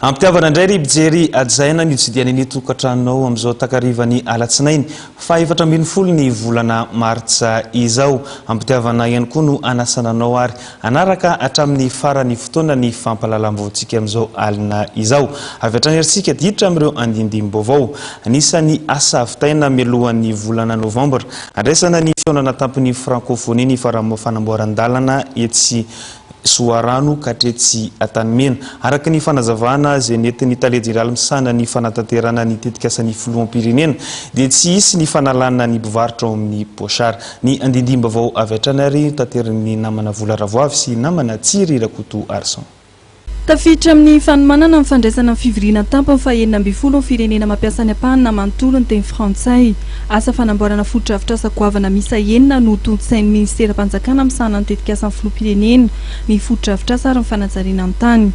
Ampitiavana indray ry mpijery ajaina ny hitsidiany ny tokantranonao amin'izao takarivany alatsinainy fahefatra ambin'ny folo ny volana martsa izao. Ampitiavana ihany koa no anasana anao ary Hanaraka hatramin'ny faran'ny fotoana ny fampahalalam-baovaontsika amin'izao alina izao. Avy hatrany ary isika hiditra amin'ireo andindim-baovao. Anisan'ny asa vitaina mialohan'ny volana novambra, handraisana ny fihaonana tampony Frankofonia ny fanamboaran-dalana etsy Soarano ka hatretsy Antanimena, araka ny fanazavana izay nentin'ny tale jeneraly misahana ny fanatanterahana ny tetikasan'ny filoham-pirenena dia tsy hisy ny fanalana ny mpivarotra ao amin'ny Boixart. Ny andindim-baovao avy hatrany ary taterin'ny namana Vola Ravoavy sy namana Tsiry Rakoto Arson. Tafiditra amin'ny fanomanana ny fandraisana ny fivoriana tampony fahenina ambin'ny folo ny firenena mampiasa any am-pahana manontolo ny teny frantsay. Asa fanamboarana fotodrafitrasa goavana miisa enina no tontosain'ny minisiteram-panjakana misahana ny tetikasan'ny filoham-pirenena, ny fotodrafitrasa ary ny fanajariana ny tany.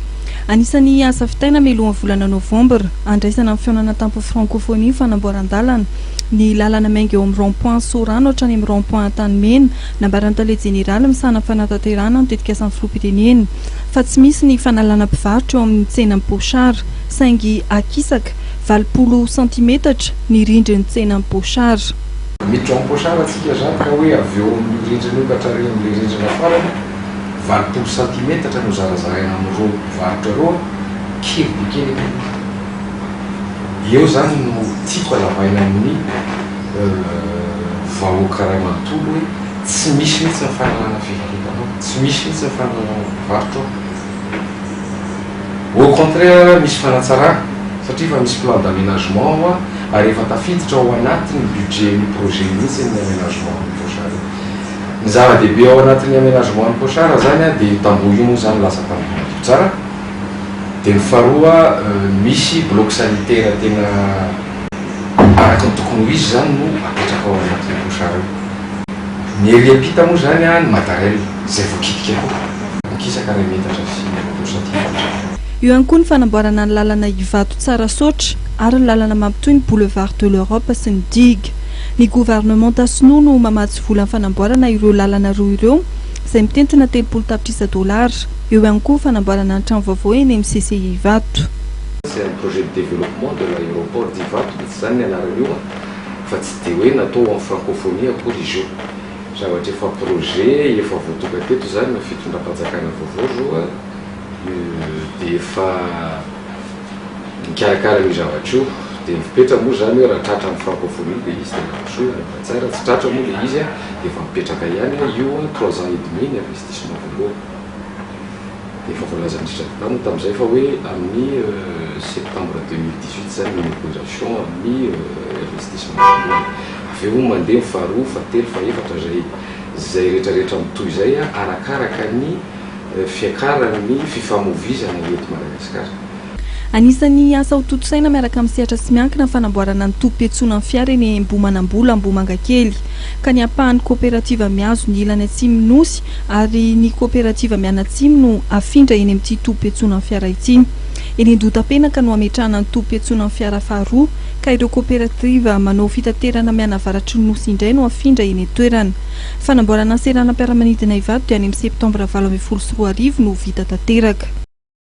Anisan'ny asa vitaina mialohan'ny volana novambra, handraisana amin'ny fihaonana tampony frankofonia ny fanamboaran-dalana. ny lalana miainga eo amin'ny rond point Sorano hatrany amin'ny rond point Antanimena. Nambaran'ny tale jeneraly misahana ny fanatanterahana ny tetikasan'ny filoham-pirenena, fa tsy misy ny fanalana mpivarotra eo amin'ny tsenan'i Bochard, saingy akisaka valopolo santimetatra ny rindrin'ny tsenan'i Bochard. Miditra ao Bochard isika izany ka hoe avy eo amin'io rindrina io ka hatrany amin'ilay rindrina farany, valopolo santimetatra no zarazaraina amin'ireo mpivarotra ireo, kely dia kely aloha. Eo zany no tiako alavaina amin'ny vahoaka ray manontolo hoe tsy misy mihitsy ny fanalana fivarotana ao, tsy misy mihitsy ny fanalana mpivarotra ao. Au contraire misy fanatsarana satria efa misy plan d'aménagement ao ary efa tafiditra ao anatin'ny budget-n'ny projet mihitsy ny aménagement an'i Pochard io. Ny zava-dehibe ao anatin'ny aménagement an'i Pochard zany dia io tamboho io moa zany lasa tamboho madio tsara. Dia ny faharoa misy bloc sanitaire tena araka ny tokony ho izy izany no apetraka ao anatin'ny clochard io. Ny ery ampita moa izany an ny matériel izay voakitika koa. Mikisaka iray metatra sy roapolo centimètre. Eo ihany koa ny fanamboarana ny lalana Ivato-Tsarasaotra ary ny lalana mampitohy ny boulevard de l'Europe sy ny digue. Ny governemanta sinoa no mamatsy vola fanamboarana ireo lalana roa ireo izay mitentina telopolo tapitrisa dolara. Eo ihany koa fanamboarana ny trano vaovao eny amin'ny CCI Ivato. C'est un projet de développement de l'aéroport d'Ivato mihitsy izany ny anarany io an! fa tsy dia hoe natao en francophonie akory izy io. Zavatra efa projet efa voatonga teto izany ny fitondram-panjakana vaovao izao an! dia efa nikarakara an'io zavatra io dia ny fepetra moa izany hoe raha tratra ny francophonie dia izy dia mandrosoa io Madagasikara, tsy tratra moa ilay izy an! dia efa mipetraka ihany an! io an! trois ans et demi ny investissement voalohany. Efa voalazan'i Richard Brown tamin'izay fa hoe amin'ny septembre deux mille dix huit izany ny opération amin'ny investissement voalohany. Avy eo mandeha ny faharoa, fahatelo, fahefatra izay izay rehetrarehetra mitohy izay arakaraka ny fiakaran'ny fifamoivizana eto Madagasikara. Anisan'ny asa ho tontosaina miaraka amin'ny sehatra tsy miankina ny fanamboarana ny tobim-piantsonan'ny fiara eny Ambohimanambola, Ambohimangakely, ka ny ampahan'ny Kaoperativa Mihazo ny ilany atsimon'ny Nosy ary ny Kaoperativa Mianatsimo no hafindra eny amin'ity tobim-piantsonan'ny fiara ity. Eny Andohatapenaka no hametrahana ny tobim-piantsonan'ny fiara faharoa ka ireo Kaoperativa manao fitaterana mianavaratry ny Nosy indray no hafindra eny an-toerana. Fanamboarana seranam-piaramanidina Ivato dia any amin'ny Septambra valo ambin'ny folo sy roa arivo no ho vita tanteraka.